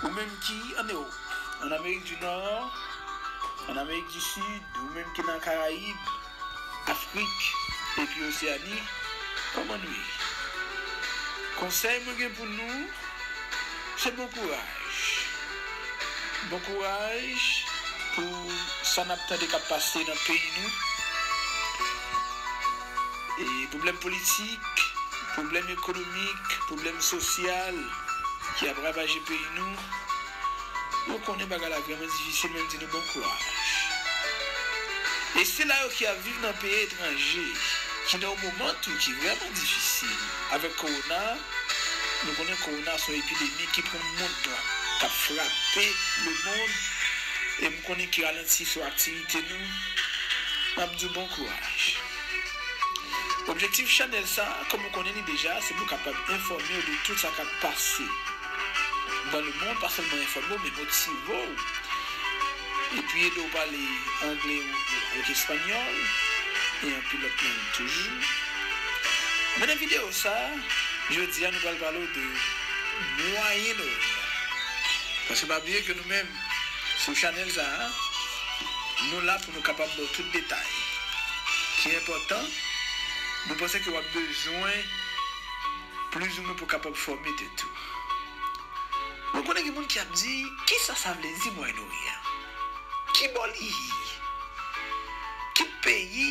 Ou menm ki an Ewop, an Amerik di Nò, an Amerik di Sid, ou menm ki nan Karayib, Afrik, epi Oseani, kòman nou ye? Konsèy mwen gen pou nou, se bon kouraj. Bon kouraj pou sa n ap tande k ap pase nan peyi nou. pwoblèm politik, pwoblèm ekonomik, pwoblèm sosyal ki ap ravaje peyi nou, nou konnen bagay la vrèman difisil men m di nou bon kouraj. E sila yo ki ap viv nan peyi etranje ki nan yon moman tou ki vrèman difisil avèk kowona, nou konnen kowona se yon epidemi ki pran mond lan, k ap frape lemond e m konnen ki ralanti sou aktivite nou. Map diw bon kouraj. Objektif chanèl sa kòm ou konnen li deja se pou kapab enfòmew de tout sa kap pase Nan le mond pa sèlman enfòmew men motivew epi edew pale angle avèk espanyòl e anpil lòt lang toujou Men nan videyo sa jodi a nou pral palew de Moyen Oryan paske pa bliye ke nou menm sou chanèl sa. Nou la pou nou kapab ba w tout detay ki enpòtan nou panse ke w ap bezwen plizoumwen pou kapab fòme tèt ou. Mwen konnen gen moun ki ap di, kisa sa vle di Mwayen Oryan? Ki bò li ye? Ki peyi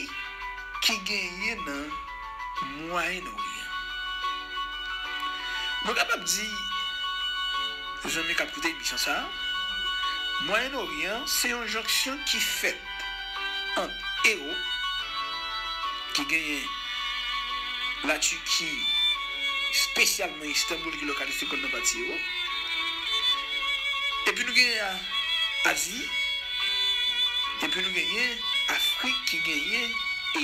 ki genyen nan. Mwayen Oryan. Mwen kapab di zanmi k ap koute emisyon sa a, Mwayen Oryan se yon jonksyon ki fèt ant Ewop, ki genyen Latiki, spesyalman Istanboul ki lokalise kò l nan pati Ewop, epi nou genyen Azi, epi nou genyen Afrik ki genyen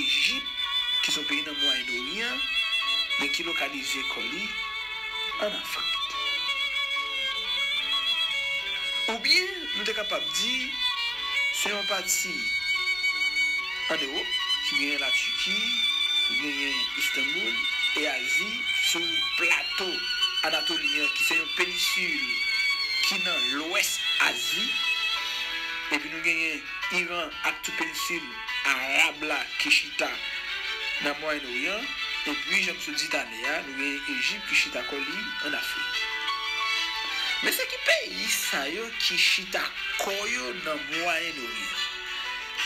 Ejip, ki son peyi nan Mwayen Oryan men ki lokalize kò li an Afrik. Oubyen nou te kapab di se yon pati an Ewop ki genyen La Tiki, ki genyen Istanboul e Azi sou plato Anatoli an ki se yon penisil ki nan lwès Azi epi nou genyen Iran ak tout penisil Arab la ki chita nan Mwayen Oryan, epi jan msot di tale a, nou gen Ejip ki chita kò li an Afrik. Men se ki peyi sa yo ki chita kò yo nan Mwayen Oryan?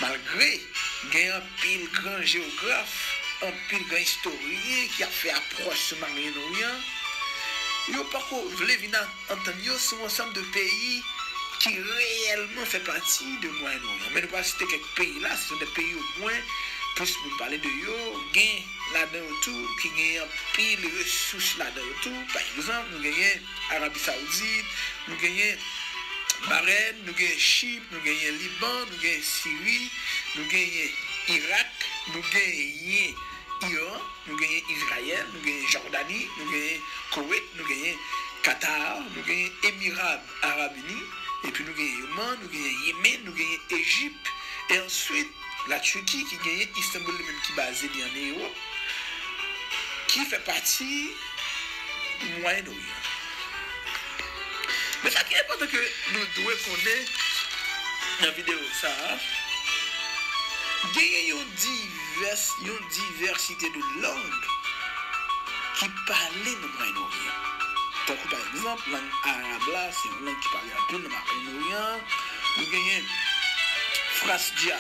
Malgre gen anpil gran jewograf, anpil gran istoryen ki ap fè apwòch sou Maryen Oryan, yo poko vle vin ak. Antann yo sou ansanm de peyi ki reyèlman fè pati de Mwayen Oryan. Men nou pral site kèk peyi la, se sou de peyi o mwen plis moun pale de yo, gen ladan yo tou ki gen anpil resous ladan yo tou. Pa egzanp, nou genyen Arabi Saoudit, nou genyen Bahrèn, nou genyen Chip, nou genyen Liban, nou genyen Siri, nou genyen Irak, nou genyen. Iran, nou genyen Izrayèl, nou genyen Jòdani, nou genyen Koweit, nou genyen Katar, nou genyen Emirab Arab Ini, epi nou genyen Yoman, nou genyen Yemen, nou genyen Ejip, e answit La Turki ki genyen Istanbul li menm ki baze li an Ewop, ki fè pati Mwayen. Men sa ki enpòtan ke nou dwe konnen nan videyo sa a, genyen yon divès, yon divèsite de lang ki pale nan Mwayen Oryan. Tankou pa egzanp, lang arab la se yon lang ki pale anpil nan Mwayen Oryan, nou genyen frasdya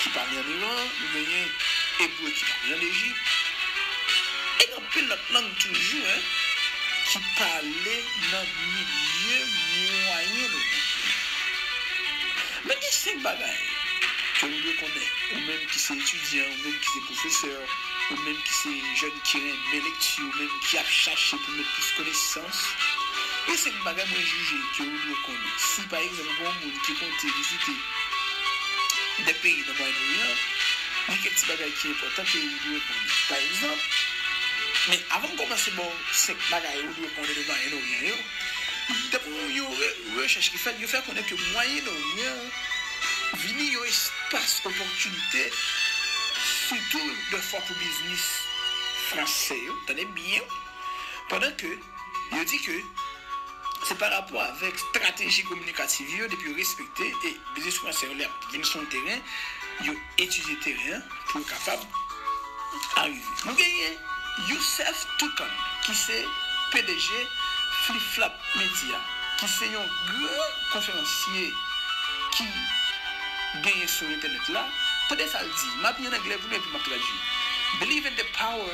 ki pale an Iran, nou genyen ebre ki pale an Ejip. Gen lòt lang toujou hein ki pale nan milye mwayen nou an. Men gen 5 bagay ke ou dwe konnen ou menm ki se etidyan, ou menm ki se pwofesè, ou menm ki se jèn ki renmen lekti, ou menm ki ap chache pou mèt plis konesans. Gen 5 bagay mwen jije ke ou dwe konnen. Si pa egzanp gen yon moun ki konte vizite Dè peyi nan mwayen oryan, gen kèk ti bagay ki enpòtan ke ou dwe konnen. Pa egzanp, men avan m kòmanse ba w 5 bagay ou dwe konnen de mwayen oryan yo, dapre yon rechèch ki fèt, yo fè konnen ke mwayen oryan an vini yon espas opòtinite sitou dèfwa pou biznis franse yo, tande byen, pandan ke. Yo di ke se pa rapò avèk strateji kominikativ yo depi yo respekte e biznis fransè yo lè yap vin sou yon teren yo etidye teren an pou yo kapab arive. Nou genyen Youssef Toucan ki se pdg Flip Flap Media ki se yon gran konferansye ki genyen sou entènèt la. Tande sa l di, map li an anglè pou nou epi map tradui, Believe in the power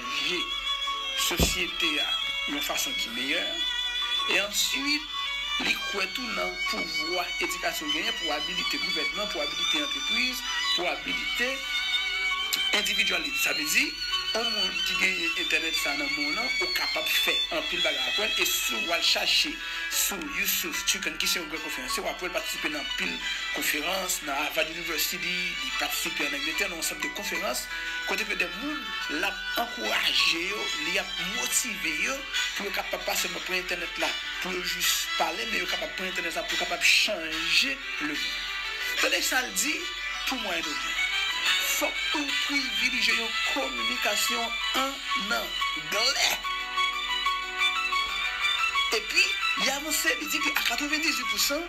vye sosyete a yon fason ki meyè, e answit li kwè tou nan pouvwa edikasyon genyen pou abilite gouvènman, pou abilite antrepriz, pou abilite endividyalite. Sa vle di, yon moun ki genyen entènèt sa nan men w lan, ou kapab fè anpil bagay ak wè l, e si w al chache sou Yusuf Tukan ki se yon gran konferansye, w ap wè l patisipe nan anpil konferans, nan Harvard University, li patisipe an Angletè nan yon sant de konferans, Kote ke de moun l ap ankouraje yo, li ap motive yo pou yo kapab pa sèlman pran entènèt la pou yo jis pale, men yo kapab pran entènèt la pou yo kapab chanje lemonn. Tande sa l di, Pou mwen nou menm, fòk nou privilije yon kominikasyon ann anglè. Epi, li avanse, li di ke a 98 pousan,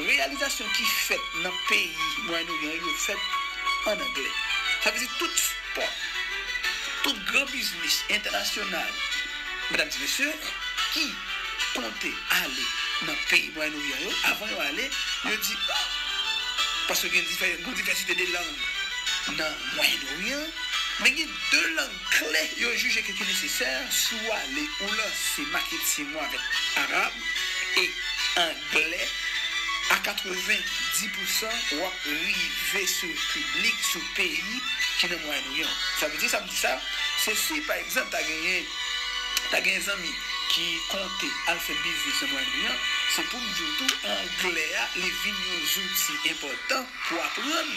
reyalizasyon ki fèt nan peyi Mwayèn Oryan yo fèt an anglè. Sa vle di tout spò, tout gran biznis entènasyonal, medam di mesye, ki konte ale nan peyi Mwayen Oryan yo, avan yo ale, yo di, o! Paske gen yon divèsite de lang nan Mwayen Oryan, men gen de lang. Kle yo jije ke ki nesesè si w ale ou lanse maketing ou avèk Arab e Angle a 90 pousan w ap rive sou piblik, sou peyi ki nan Mwayen Oryan. Sa vle di sa m di sa, se si pa egzanp ta genyen ta genyen zanmi ki konte al fè biznis nan Mwayen Oryan, se pou m di w tou Angle a li vin yon zouti enpòtan pou aprann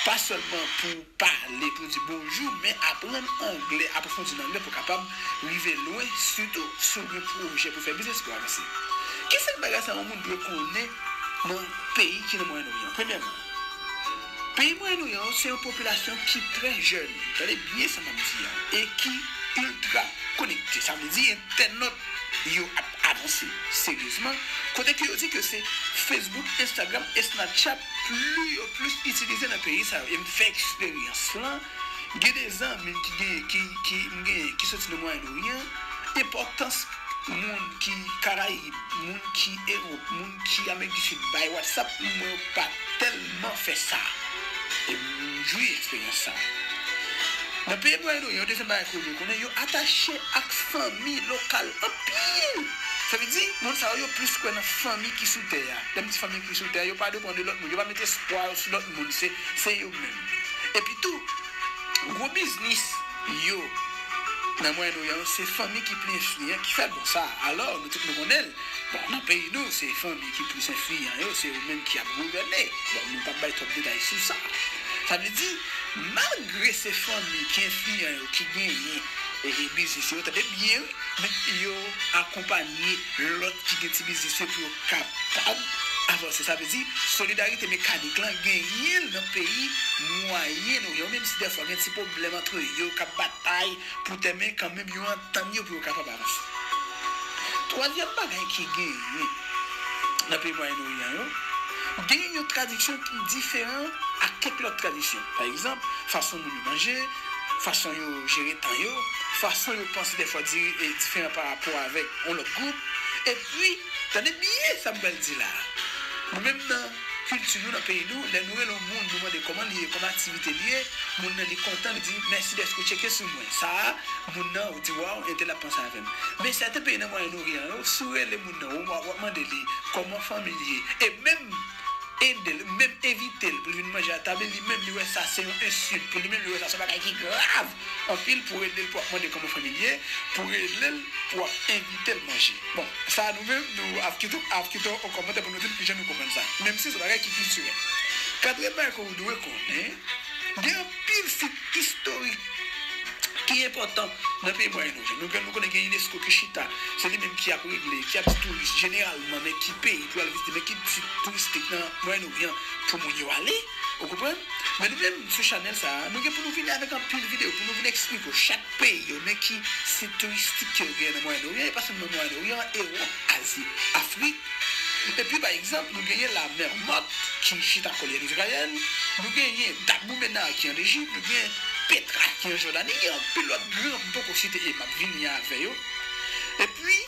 pa sèlman pou. Pale pou di bonjou, men aprann anglè, apwofondi nan anglè pou w kapab rive lwen, sitou si w gen pwojè pou w fè biznis pou w avanse. Ki senk bagay sa yon moun dwe konnen nan peyi ki nan Mwayen Oryan? Premyèman, peyi Mwayen Oryan yo se yon popilasyon ki trè jèn, tande byen sa m ap di a, e ki iltra konekte. Sa vle di entènòt yo ap avanse seryezman, kote ke yo di ke se Facebook, Instagram e Snapchat pli yo plis itilize nan peyi sa yo e m fè eksperyans lan gen de zanmi m ki gen ki ki m genyen ki soti nan mwayen oryan enpòtans moun ki karayib moun ki ewop moun ki amerik di sid bay watsap m wè yo pa tèlman fè sa e m jwi eksperyans sa nan peyi mwayen oryan yon dezyèm bagay ke w dwe konnen yo atache ak fanmi lokal anpil sa vle di moun sa yo yo plis kwè nan fanmi ki sou tè a. Menm ti fanmi ki sou tè yo pa depan de lòt moun. Yo pa met espwa yo sou lòt moun. Se yo menm. Epi tou, gwo biznis yo nan Mwayen Oryan yo, se fanmi ki pli enfliyan ki fè bon sa. Alò, nou tout nou konnen l, bon, nan peyi nou, se fanmi ki plis enfliyan yo, se yo menm ki ap gouvène. Bon, nou pap bay twòp detay sou sa. Sa vle di, malgre se fanmi ki enfliyan yo ki genyen biznis yo, tande byen wi, men yo akonpanye lòt ki gen ti biznis yo pou yo kapab avanse. Sa vle di, solidarite mekanik lan genyen l nan peyi Mwayen Oryan yo, menm si dèfwa gen ti pwoblèm antre yo k ap batay pou tè, men kanmenm yo antann yo pou yo kapab avanse. Twazyèm bagay ki genyen nan peyi Mwayen Oryan yo, genyen yon tradiksyon ki diferan ak kèk lòt tradiksyon. Pa egzanp, fason moun yo manje, fason yo jere tan yo, fason yo panse dèfwa diferan parapò avèk yon lòt gwoup. Epi. Tande byen sa m pral di la a. Nou menm nan kilti nou, nan peyi nou, lè nou rele yon moun nou mande kòman li ye, kòman aktivite li ye, moun nan li kontan li di mèsi dèske w tcheke sou mwen. Sa a, moun nan, ou di waw, entèl ap panse avè m. Men sèten peyi nan Mwayen Oryan yo, si w rele moun nan, ou ap mande li kòman fanmi l ye, e menm ede l, menm envite l pou l vin manje atab li, li menm li wè sa se yon ensilt, pou li menm li wè sa se yon bagay ki grav. Anpil pou relel pou ap mande koman fanmil ye pou relel pou ap envitel manje bon sa nou menm nou ap kite ap kite yon kòmantè pou nou dil kijan nou konprann sa menm si son bagay ki kiltirèl katriyèm bagay ke ou dwe konnen gen anpil sit istorik ki enpòtan nan peyi mwayen oryant nou gen nou konnen gen unesco ki chita se li menm ki ap regle ki ap di touris jeneralman men ki peyi pou yal vizite men ki sit touristik nan mwayen oryant pou moun yo ale. Ou konprann? Men nou menm sou chanèl sa a, nou gen pou nou vini avèk anpil videyo pou nou vin eksplike w chak peyi yo, men ki sit touristik ke yo genyen nan Mwayen Oryan, e pa sèlman Mwayen Oryan, Ewòp, Azi, Afrik. Epi pa egzanp, nou genyen La Mer Morte ki chita kò li ann Izrayèl, nou genyen Dabou Menar ki ann Ejip, nou genyen Petra ki an Jòdani, gen anpil lòt gran m poko site e m ap vini avè yo. Epi.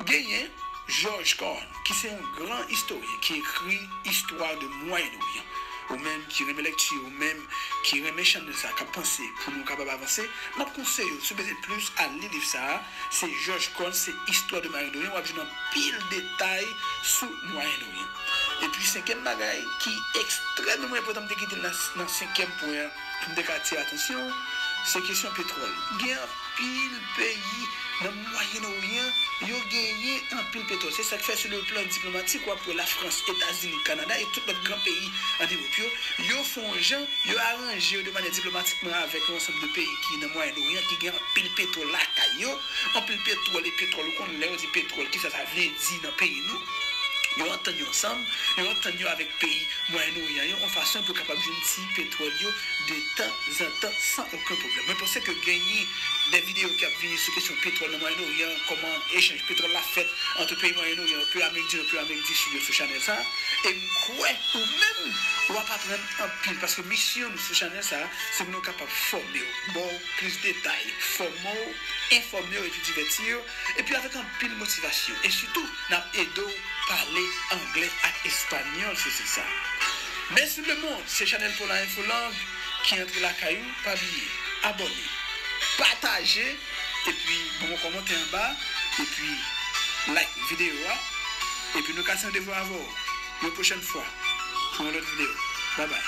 Genyen George Carne ki se yon gran istoryen ki ekri Histoire de Moyen Orient. Ou menm ki renmen lekti, ou menm ki renmen channel sa kap panse pou nou kapab avanse, map konseye w si w bezwen plis al li liv sa, se George Carne se Histoire de Moyen Orient, wap jwenn anpil detay sou Moyen Orient. Epi senkyèm bagay ki ekstrèmeman enpòtan m te kite nan senkyèm pwen an, Poum te ka atire atansyon se kesyon petwòl. Gen anpil peyi nan mwayen oryan yo genyen anpil petwòl se sak fè sou le plan diplomatik wap wè la frans, etazini, kanada e tout lòt gran peyi an ewop yo, yo fon jan yo aranje yo de manyè diplomatikman avèk yon ansanm de peyi ki nan mwayen oryan ki gen anpil petwòl lakay yo, anpil petwòl e petwòl ou konn lè yo di petwòl kisa sa vle di nan peyi nou. Yo antann yo ansanm, yo antann yo avèk peyi Mwayen Oryan yo yon fason pou yo kapab jwenn ti petwòl yo de tan zan tan san oken pwoblèm. Mwen panse ke genyen de videyo ki ap vini sou kesyon petwòl nan Mwayen Oryan an, kòman echanj petwòl la fèt antre peyi Mwayen Oryan yo, peyi Amerik di Nò, peyi Amerik di Sid yo sou chanèl sa a. E m kwè ou menm w ap aprann anpil paske misyon nou sou chanèl sa a se pou nou kapab fòme w, ba w plis detay, fòme w, enfòme w epi divèti w. epi avèk anpil motivasyon e sitou nap ede w pale anglè ak espanyòl se se sa mèsi lemond se chanèl pola info lang ki antre lakay ou pa bliye abòne pataje epi ban mwen kòmantè anba epi like video a epi nou kase randevou avè w yon pwochèn fwa pou yon lòt video babay.